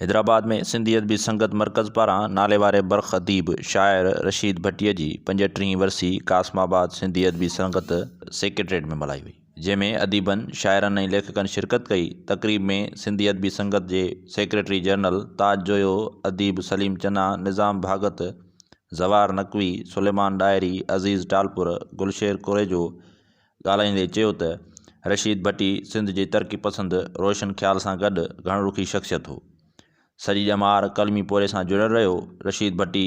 حيدرآباد ۾ سنڌي ادبي سنگت مرڪز پاران ناليواري برک اديب شاعر رشيد ڀٽي جي پنجهٽرهين ورسي قاسم آباد سنڌي ادبي سنگت سيڪريٽريٽ ۾ ملهائي وئي جنهن ۾ اديبن شاعرن ۽ ليکڪن شرڪت ڪئي تقريب ۾ سنڌي ادبي سنگت جي سيڪريٽري جنرل تاج جويو اديب سليم چنا نظام ڀاڳت زوار نقوي سليمان ڏاهري عزيز ٽالپر گلشير ڪوريجو ڳالهائيندي چيو ته رشيد ڀٽي سنڌ جي ترقي پسند روشن خيال سان گڏ گهڻ رخي شخصيت هو. سڄي ڄمار قلمي پورهيي سان جڙيل رهيو. رشيد ڀٽي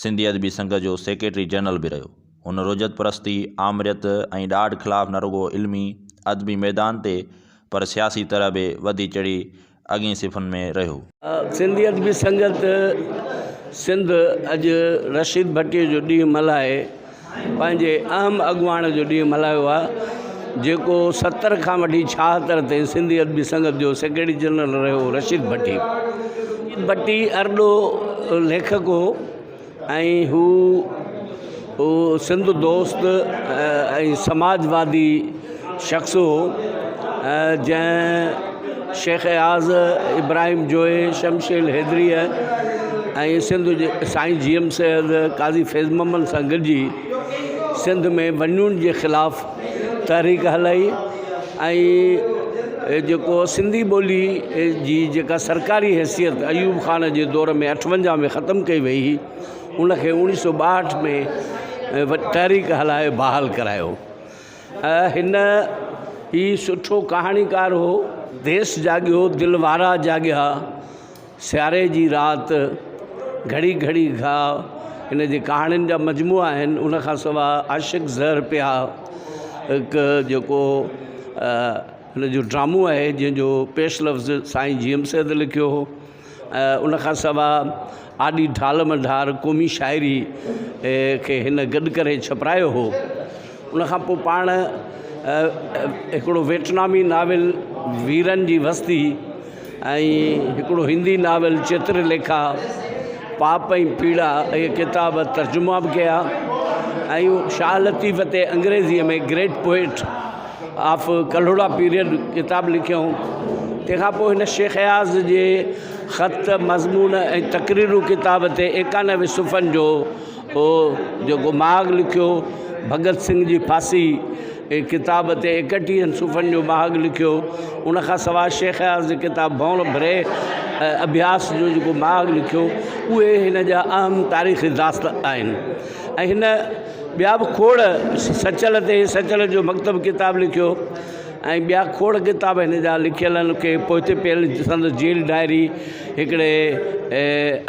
سنڌي ادبي سنگت جو سيڪريٽري جنرل به رهيو. هن رجعت پرستي، آمريت ۽ ڏاڍ خلاف نه رڳو علمي، ادبي ميدان تي پر سياسي طرح به وڌي چڙهي اڳين صفحن ۾ رهيو. سنڌي ادبي سنگت سنڌ اڄ رشيد ڀٽي جو ڏينهن ملهائي پنهنجي اهم اڳواڻ جو ڏينهن ملهايو آهي جيڪو ستر کان وٺي ڇاهتر تائين سنڌي ادبي سنگت جو سيڪريٽري جنرل رهيو هو رشيد ڀٽي ڀٽي ارڏو ليکڪ هو ۽ هو سنڌ دوست ۽ سماج وادي شخص هو جنهن شيخ اياز، ابراهيم جويي، شمشيل حيدريء ۽ سنڌ جي سائين جي ايم سيد، قاضي فيض محمد سان گڏجي سنڌ ۾ ونڊين جي خلاف تحريڪ هلائي ۽ جيڪو سنڌي ٻولي جي جيڪا سرڪاري حيثيت ايوب خان جي دور ۾ اٺونجاهه ۾ ختم ڪئي وئي هئي ان کي اوڻيهه سو ٻاهٺ ۾ تحريڪ هلائي بحال ڪرايو ۽ هن هي سٺو ڪهاڻيڪار هو ديس جاڳيو دل وارا جاڳيا سياري جي رات، گهڙي گهڙي گهاء، هن جي ڪهاڻين جا مجموعا آهن ان کان سواء عاشق زهر پيا هڪ جيڪو هن جو ڊرامو آهي جنهن جو پيش لفظ سائين جي ايم سيد لکيو هو ۽ ان کان سواء آڏي ڍال مڍار قومي شاعري کي هن گڏ ڪري ڇپرايو هو ان کان پوء پاڻ هڪڙو ويٽنامي ناول ويرن جي وستي ۽ هڪڙو هندي ناول چتر ليکا پاپ ۽ پيڙا اهي ڪتاب ترجما به ڪيا ۽ شاهه لطيف تي انگريزيء ۾ great poet of Kalhora period ڪتاب لکيائون تنهن کان پوء هن شيخ اياز جي خط مضمون ۽ تقريرون ڪتاب تي ايڪانوي صفحن جو هو جيڪو مهاڳ لکيو، ڀڳت سنگهه جي ڦاسي جي ڪتاب تي ايڪٽيهن صفحن جو مهاڳ لکيو، ان کان سواء شيخ اياز جي ڪتاب ڀؤنر ڀري اڀياس جو جيڪو مهاڳ لکيو، اهي هن جا اهم تاريخي داست آهن ۽ هن ٻيا به کوڙ سچل تي سچل جو مڪتب ڪتاب لکيو ۽ ٻيا کوڙ ڪتاب هن جا لکيل آهن، کي پوئتي پيل سندس جيل ڊائري. هڪڙي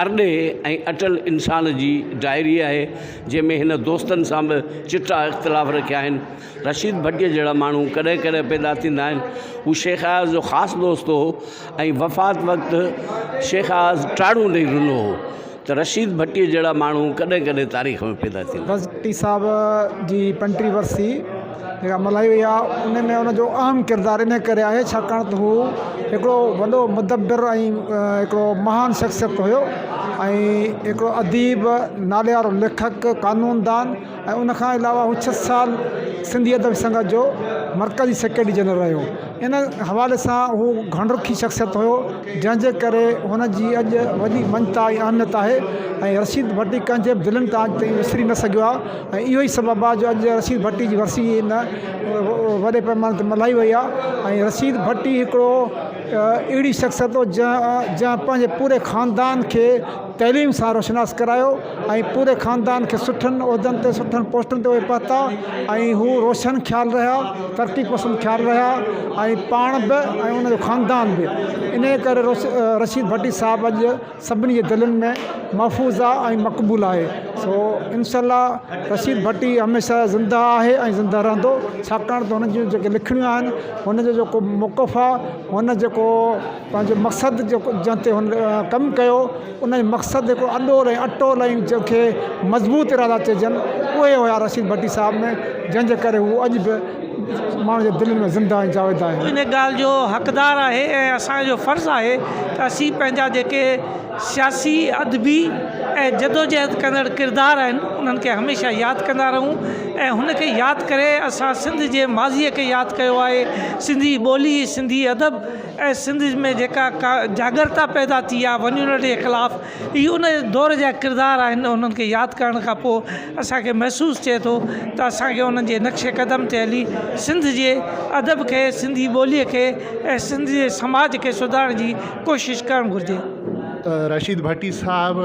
ارڏي ۽ اٽل انسان جي ڊائري آهي، جنهن ۾ هن دوستن سان به چٽا اختلاف رکيا آهن. رشيد ڀٽيء جهڙا ماڻهو ڪڏهن ڪڏهن پيدا ٿيندا آهن. هو شيخ اياز جو خاص دوست هو ۽ وفات وقت شيخ اياز ٽاڙون ڏئي رنو هو. ته رشيد ڀٽي جهڙا ماڻهو ڪڏهن ڪڏهن تاريخ ۾ پيدا ٿيندا آهن. ڀٽي صاحب جي پنٽيهه ورسي جيڪا ملهائي وئي آهي ان ۾ ان جو اهم ڪردار ان ڪري آهي ڇاڪاڻ ته هو هڪڙو وڏو مدبر ۽ هڪڙو مهان شخصيت هيو ۽ هڪڙو اديب ناليوارو ليکڪ قانوندان ۽ ان کان علاوه هو ڇهه سال سنڌي ادبي سنگت جو مرڪزي سيڪريٽري جنرل رهيو ان حوالي سان هو گهڻ رخي شخصيت هيو جنهن جي ڪري هن جي اڄ وڏي مڃتا ۽ اهميت آهي ۽ رشيد ڀٽي ڪنهن جي به دلين تان اڄ تائين وسري نه سگهيو آهي ۽ اهو ئي سبب آهي جو اڄ رشيد ڀٽي جي ورسي ان وڏي پئماني تي ملهائي وئي آهي ۽ رشيد ڀٽي هڪڙو اهڙي شخصيت هو جنهن جنهن پنهنجي پوري خاندان کي تعليم سان روشناس ڪرايو ۽ پوري خاندان کي سٺن عهدن تي سٺن پوسٽن تي اهي پهتا ۽ هو روشن خيال رهيا ترقي پسند خيال رهيا ۽ پاڻ به ۽ انهن جو خاندان به انهيء ڪري رشيد ڀٽي صاحب اڄ سڀني جي دلين ۾ محفوظ آهي ۽ مقبول آهي سو انشاء الله رشيد ڀٽي هميشه زنده آهي ۽ زنده رهندو ڇاڪاڻ ته هن جون جيڪي لکڻيون آهن هن جو جيڪو موقف آهي هن جيڪو پنهنجو مقصد جيڪو جنهن تي هن ڪم ڪيو ان جو مقصد هڪڙو اڏول ۽ اٽول ۽ جنهن کي مضبوط ارادا چئجن اهي هيا رشيد ڀٽي صاحب ۾ جنهن جي ڪري هو اڄ به ماڻهن جي دلين ۾ زنده ۽ جاويده آهن. ان ڳالهه جو حقدار آهي ۽ اسان جو فرض آهي ته اسين پنهنجا جيڪي سياسي، ادبي ۽ جدوجهد ڪندڙ ڪردار آهن انهن کي هميشه ياد ڪندا رهون ۽ هن کي ياد ڪري اسان سنڌ جي ماضي کي ياد ڪيو آهي سنڌي ٻولي، سنڌي ادب. ۽ سنڌ ۾ جيڪا ڪا جاڳرتا پيدا ٿي آ ونيونٽي جي خلاف هي ان دور جا ڪردار آهن انهن کي ياد ڪرڻ کان پوء اسانکي محسوس ٿئي ٿو ته اسانکي انهن جي نقش قدم تي هلي سنڌ جي ادب کي سنڌي ٻولي کي ۽ سنڌ جي سماج کي سڌارڻ جي ڪوشش ڪرڻ گهرجي. رشيد ڀٽي صاحب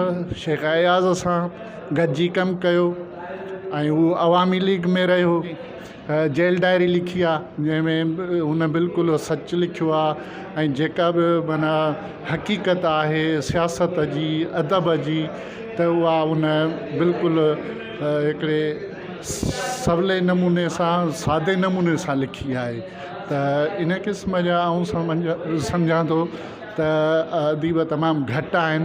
شيخ اياز سان گڏجي ڪم ڪيو ۽ هو عوامي ليگ ۾ رهيو جيل ڊائري لکي آ جنهن ۾ هن بلڪل سچ لکيو آ ۽ جيڪا به معنيٰ حقيقت آهي سياست جي ادب جي ته اها هن بلڪل هڪڙي سولي نموني سان سادي نموني سان لکي آهي ته ان قسم جا آئون سمجا سمجهان ٿو ته اديب تمام گهٽ آهن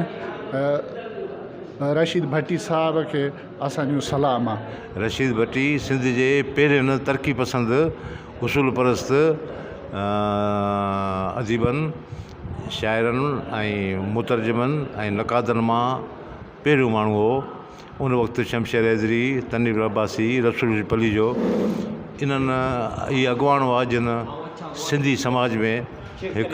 رشيد ڀٽي صاحب کي اسان جون صلاح مان. رشيد ڀٽي سنڌ جي پهرين ترقي پسند اصول پرست اديبن، شاعرن ۽ مترجمن ۽ نقادن مان پهريون ماڻهو هو. ان وقت شمشير حيدري، تنوير عباسي، رسول علي پليجو انهن اهي اڳواڻ هئا جن سنڌي سماج ۾ هڪ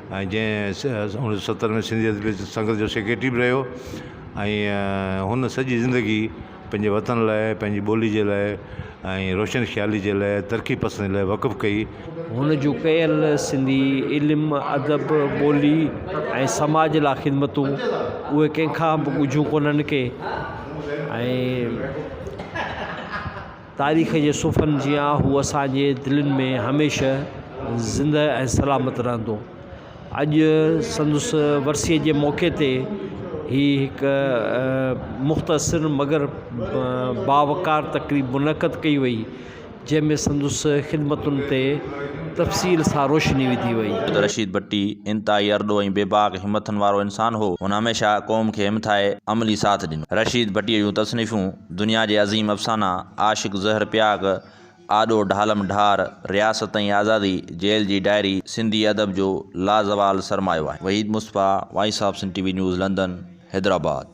۽ جنهن اڻ سو ستر ۾ سنڌي ادبي سنگت جو سيڪريٽري به رهيو ۽ هن سڄي زندگي پنهنجي وطن لاء پنهنجي ٻولي جي لاء ۽ روشن خيالي جي لاء ترقي پسندي لاء وقف ڪئي. هن جون ڪيل سنڌي علم، ادب، ٻولي ۽ سماج لاء خدمتون اهي ڪنهن کان به ڳجهيون ڪونهن ڪي ۽ تاريخ جي صفحن جيان هو اسان جي دلين ۾ هميشه زنده ۽ سلامت رهندو. اڄ سندس ورسيء جي موقعي تي هي هڪ مختصر مگر باوقار تقريب منعقد ڪئي وئي، جنهن ۾ سندس خدمتن تي تفصيل سان روشني وڌي وئي. سيد رشيد ڀٽي انتهائي ارڏو ۽ بي باڪ همٿن وارو انسان هو. هن هميشه قوم کي همٿائي عملي ساٿ ڏنو. رشيد ڀٽيء جون تصنيفون دنيا جي عظيم افسانا، عاشق زهر پياڪ، آڏو ڍالم ڍار، رياست ۽ آزادي، جيل جي ڊائري، سنڌي ادب جو لازوال سرمايو آهن. Waheed Mustafa, voice of Sindh T V news London, Hyderabad.